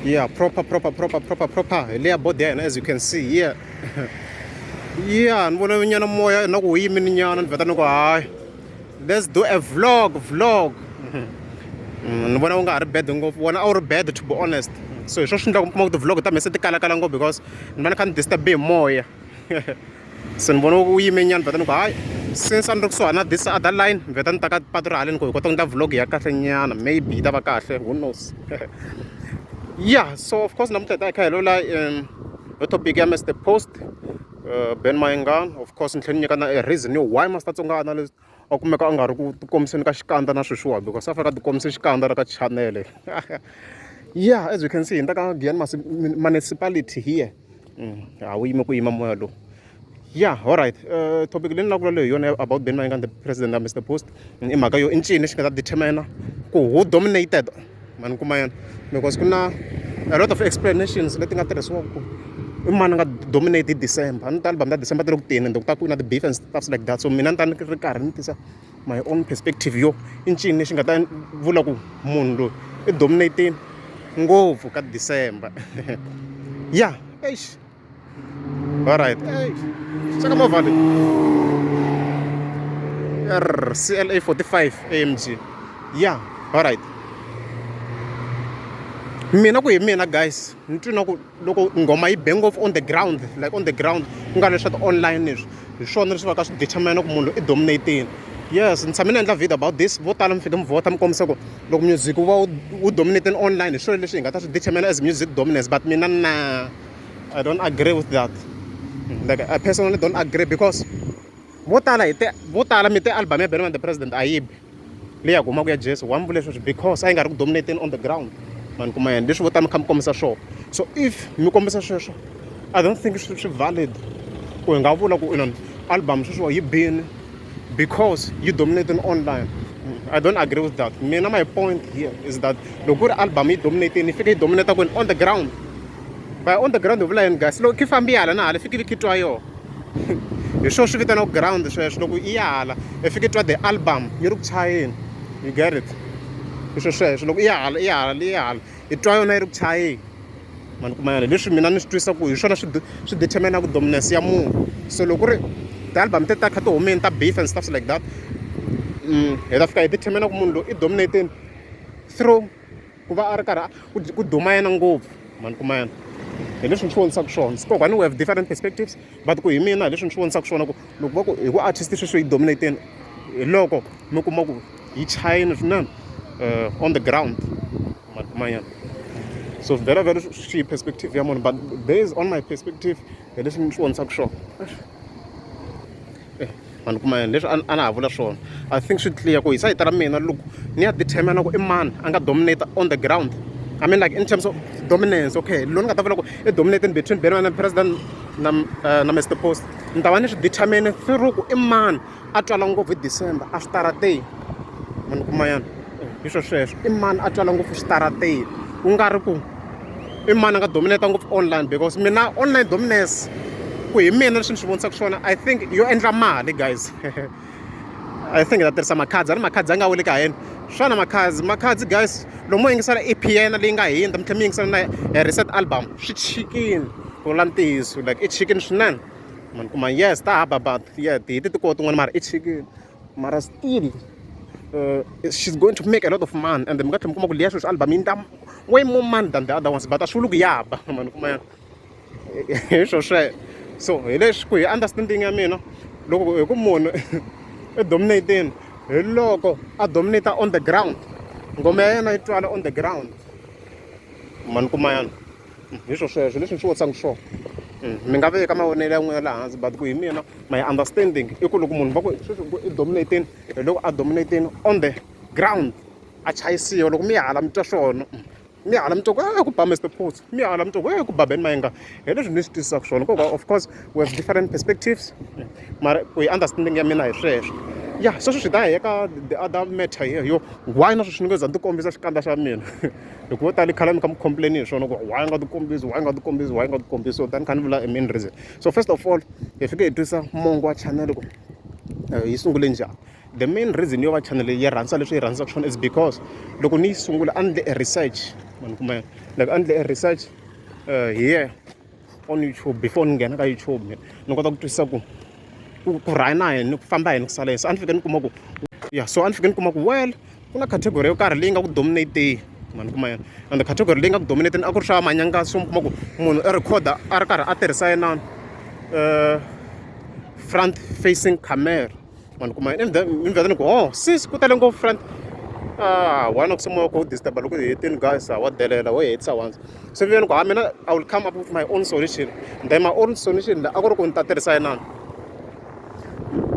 yeah proper proper proper proper proper hi leya body ya hina as you can see here yeah ni vona nyana moya na ku wu yimini nyana ni veta ni ku hayi let's do a vlog vlog mm, ni vona u nga ha ri bad ngopfu wona a wu ri bad to be honest so hi swo swi endlaka mi kuma ku ti-vlog ta mina se ti kalakala ngopfu because ni va ni kha ni disturbe hi moya se ni vona wu yime nyana vheta ni ku hayi since a ni ri kusuhani na this other line ni vheta ni ta ka patu ra haleni ku hi kota ku endla vlog ya kahle nyana maybe yi ta va kahle who knows ya so of course namuntlha hi ta hi kha hi lola um yo topic ya mr post uh, ben mayengan of course ni tlhela ni nyika na a reason yo why master tsongana a kumeka a nga ri ku tikombiseni ka xikandza na sweswiwani because a fanele a tikombise xikandza ra ka chanele yeah as you can see hi nta ka giyani municipality here mm, a wu yime ku yima moya lowu yeah all right uh, topic leyi ni lavula leyi hi yona about ben mayengani the president ya mr post i mhaka yo i ncini lexi nga ta determina ku who dominated ma ni kuma yona because ku na a lot of explanations leti nga tirhisiwaka ku i mani nga dominate december a ni ta album ta december ti le ku teni ende ku ta ku na ti-beef and stuffs like that so mina ni ta ni ri karhi ni tisa my own perspective yo i ncini lexi nga ta vula ku munhu loyi i dominatini ngopfu ka december ya eish Alright. Hey, saka movha leyi. Err, CLA 45 AMG. Yeah, alright. mina ku hi mina guys ni twi na ku loko nghoma yi be ngopfu on the ground like on the ground ku nga leswa ti-online leswi hi swona leswi va ka swi determina ku munhu i dominating yes ni tshame ni endla video about this vo tala mi fike mi vhota mi kombisa ku loko music wu va wu dominating online hi swilo leswi hi nga ta swi determina as music dominance but mina na I don't agree with that like I personally don't agree because vo tala hi te vo tala mi te album ya Benman the President a yi bi leyi ya ku humaka ya Jesu wa mi vule sweswi because a yi nga ri ku dominating on the ground mani kuma yena leswi vo tala mi kha mi kombisa swona so if mi kombisa sweswo I don't think swi swi valid ku hi nga vula ku inon album sweswo yi bini because yi dominating online I don't agree with that mina my point here is that loko ku ri album yi dominating yi fike yi dominate kwini on the ground by on the ground hi vula yini guys loko khi fambi hala na hala fiki vi khitwa yoho hi swona swi vitanaku ground sweswo loko i ya hala i fiki twa the album yi ri ku chayeni you get it i swo sweswo loko i ya hala i ya hala i ya hala i twa yona yi ri ku chayeni mani kuma yona leswi mina ni swi twisa ku hi swona swi swi determinaku dominance ya munhu so loko ri ti-album te ta kha ti humeni ta beef and stuff like that mm, hi ta fika hi determina ku munhu loyi i dominating through ku va a ri karhi ku duma yena ngopfu mani kuma yena hi leswi ni swi vonisaka swona sikokwani we have different perspectives but ku hi mina hi leswi ni swi vonisaka swona ku loko va ku hi ku artist sweswi yi dominateni hi loko mi kuma ku yi chayini swinene uh, on the ground mani kuma yena so very very swi perspective ya munhu but based on my perspective hi leswi ni swi vonisaka swona eh, vanhu kuma yini leswi a na ha vula swona i think swi clear ku hi sayita ra mina loko ni ya determina ku i mani a nga dominate on the ground i mean like in terms of dominance okay lo ni nga ta vula ku i dominating between ben and president na, uh, na mr post ni ta va ni swi determine through ku i mani a twala ngopfu hi december a switarateni mani kuma yana hi swo sweswo i mani a twala ngopfu switarateni ku nga ri ku i mani a nga dominata ngopfu online because mina online dominance ku hi mina leswi ni swi vonisaka swona i think yo endla mali guys i think ta tirhisa makhadzi a ni makhadzi a nga weli ka hina xana makhadzi makhadzi guys lomu mo yingisela e p yena leyi nga hindza mi tlhela mi yingisela na reset album swi chikile ku vula ntiyiso like i chikile swinene ma ni kuma yes ta hava but yeah hi ti tikoti n'wana mara i chikile mara still she's going to make a lot of money ende mi nga tlhela mi kuma ku liya sweswi album yi endla way more money than the other ones but a swi vuli ku ya ba ma ni kuma ya hi swo sweswo so hi leswi ku hi understanding ya mina loko hi ku munhu i dominating hi loko a dominate on the ground ngoma ya yena yi twala on the ground ma ni kuma yana hi swo sweswo leswi ni swi vutisaka swona mi nga veka mavonelo ya n'wina laha hansi but ku hi mina my understanding i ku loko munhu va ku sweswi ku i dominating hi loko a dominating on the ground a chayisiwa loko mi ya hala mi twa swona mi ya hala mi twa ku e ku ba Mister Putso mi ya hala mi twa ku e ku ba Ben Mayenga hi leswi ni swi twisisaka swona nkoka of course we have different perspectives mara ku hi understanding ya mina hi sweswo ya sweswo swi ta hi eka the other matter here yo why na sweswi ni nge za ni ti kombisa xikandza xa mina loko vo tala khale mi kha mi complain hi swona ku why nga ti kombisi why nga ti kombisi why nga ti kombisi so tani kha ni vula a main reason so first of all hi fike hi twisa mongo wa channel ku eh, yi sungule njhani the main reason yo va channel yi rhandza leswi yi rhandzaka swona is because loko ni yi sungula a ni le research mani kumbe like a ni le research uh, eh, here on youtube before ni nghena ka youtube ni kota ku twisisa ku ku ku rhaya na yini ku famba yini ku sala yini so a ni fike ni kuma ku ya so a ni fike ni kuma ku well ku na category yo karhi leyi nga ku dominateni mani kuma yena and category leyi nga ku dominateni a ku ri swa manyanga so mi kuma ku munhu i recorda a ri karhi a tirhisa yena um front facing camera vanhu kuma ni vheta ni ku o oh, sis ku tele ngopfu friend ah wena ku simoya ku disturba loko hi hetini guys ah, wa delela wo hetisa once se vuyeni ku ha ah, mina i will come up with my own solution then my own solution a ku ri ku ni ta tirhisa yinani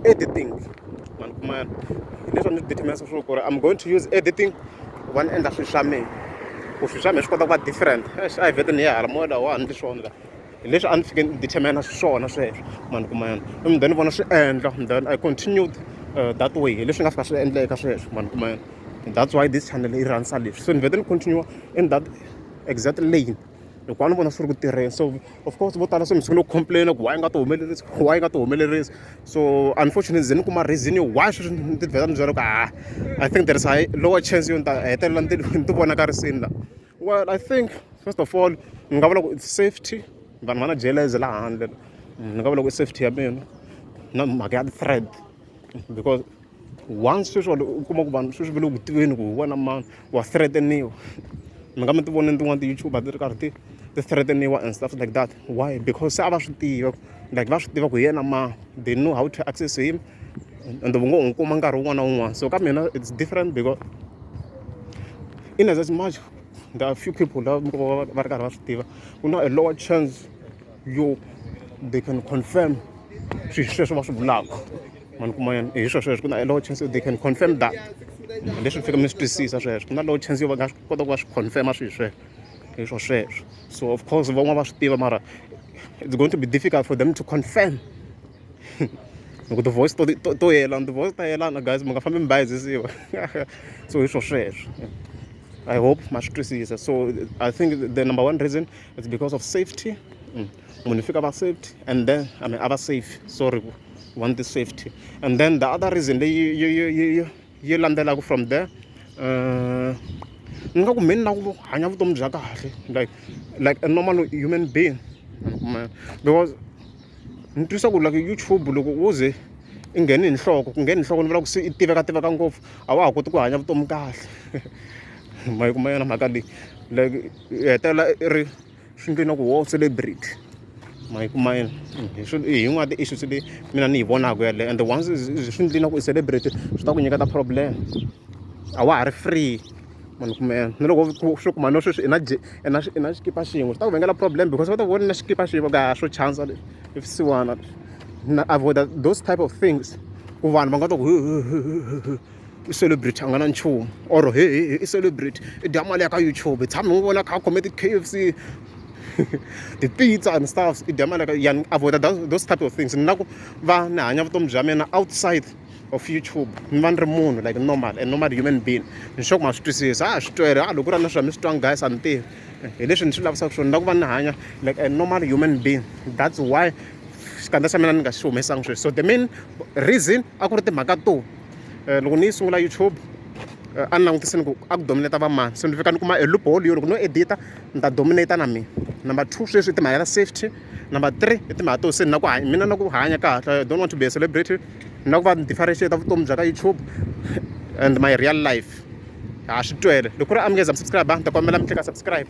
editing vanhu kuma yana leswi ni determinesa swo ku ri i'm going to use editing ku va ni endla swilo swa mina ku swilo swa mina swi kota ku va different a hi vhete ni ya hala moya lawa wa ha ni swona laha hi leswi a ni fike ni determine xiswona sweswo ma ni kuma yona and then vona swi endla and then i continued uh, that way hi leswi nga fika swi endleka sweswo ma ni kuma yona and that's why this channel yi rhandza leswi so ni vete ni continue in that exact lane hikuva ni vona swi ri ku tirheni so of course vo tala se misiku ni ku complaina ku why nga ti humelerisi why nga ti humelerisi so unfortunately ze ni kuma reason yo why sweswi ni ti vheta ni byela ku ha ah, i think there is a lower chance yo ni ta hetelela ni ti vonakarisini laha well i think first of all ni nga vula ku it's safety vanhu va na jeleze laha handle ni nga vula ku i safety ya mina na mhaka ya thread because once sweswi u kuma ku vanhu sweswi va le ku tiveni ku hi wena mani wa threateniwa mi nga mi ti voneni tin'wana ti-youtube ti ri karhi ti ti threateniwa and stuff like that why because se a va swi tiva like va swi tiva ku hi yena ma they know how to access him ende u ngo n'wi kuma nkarhi wun'wana na wun'wana so ka mina it's different because in as much there are few people lava mi ko va va ri karhi va swi tiva ku na a lower chance yo they can confirm swilo sweswo va swi vulaka ma ni kuma yena hi sweswo sweswo ku na a lower chance yo they can confirm that leswi mi fika mi swi twisisa sweswo ku na lower chance yo va nga swi kota ku va swi confirma swilo sweswo hi swo sweswo so of course van'wana va swi tiva mara it's going to be difficult for them to confirm loko ti-voice to to to yelana ti-voice ta yelana guys mi nga fambi mi bayizisiwa so hi swo sweswo i hope ma swi twisisa so i think the number one reason it's because of safety mm. munhu fika va safety and then i mean a va safe sorry want the safety and then the other reason leyi yi yi yi yi landzelaka from there uh, ni nga ku mheni na ku hanya vutomi bya kahle like like a normal human being because ni twisa ku like YouTube loko wo ze i nghene hi nhloko ku nghene hi nhloko ni vula ku se i tiveka tiveka ngopfu a wa ha koti ku hanya vutomi kahle ma yi kuma yona mhaka leyi like i hetelela i ri swi ndlwini ku wo celebrity ma yi kuma yini hi yin'wana ya ti-issues leyi mina ni yi vonaka yeleyo and once swi ndlwini ku i celebrity swi ta ku nyiketa problem a wa ha ri free. mani kuma yena na loko swi kuma no sweswi i na i na i na xikipa xin'we swi ta ku vangela problem because va ta vona na xikipa xin'we ka swo chansa leswi i swisiwana na avoid those type of things ku vanhu va nga ta ku i celebrity a nga na nchumu or he he i celebrity i dya mali ya ka youtube i tshame n'wi vona kha a khome ti-k f c ti-pizza and stuff i dya mali ya ka yani avoid those type of things ni na ku va ni hanya vutomi bya mina outside of youtube mi va ni ri munhu like normal and normal human being ni sure ku ma swi twisisa a swi twele a loko ku ri na swa mi swi twanga guys a ni tivi hi leswi ni swi lavisaka swona ni lava ku va ni hanya like a normal human being that's why xikandza xa mina ni nga xi humesanga sweswi so the main reason a ku ri timhaka to eh, loko ni yi sungula youtube eh, a ni langutisini ku a ku dominata vamani so ni fika ni kuma e loophole yo loko no edita ni ta dominata na mina number two sweswi i timhaka ta safety number three i timhaka to se ni na ku hanya mina na ku hanya kahle i don't want to be a celebrity ni na ku va ni differentiate vutomi bya ka youtube and my real life ha swi twele loko ku ri amukeza mi subscribe ni ta kombela mi tleka subscribe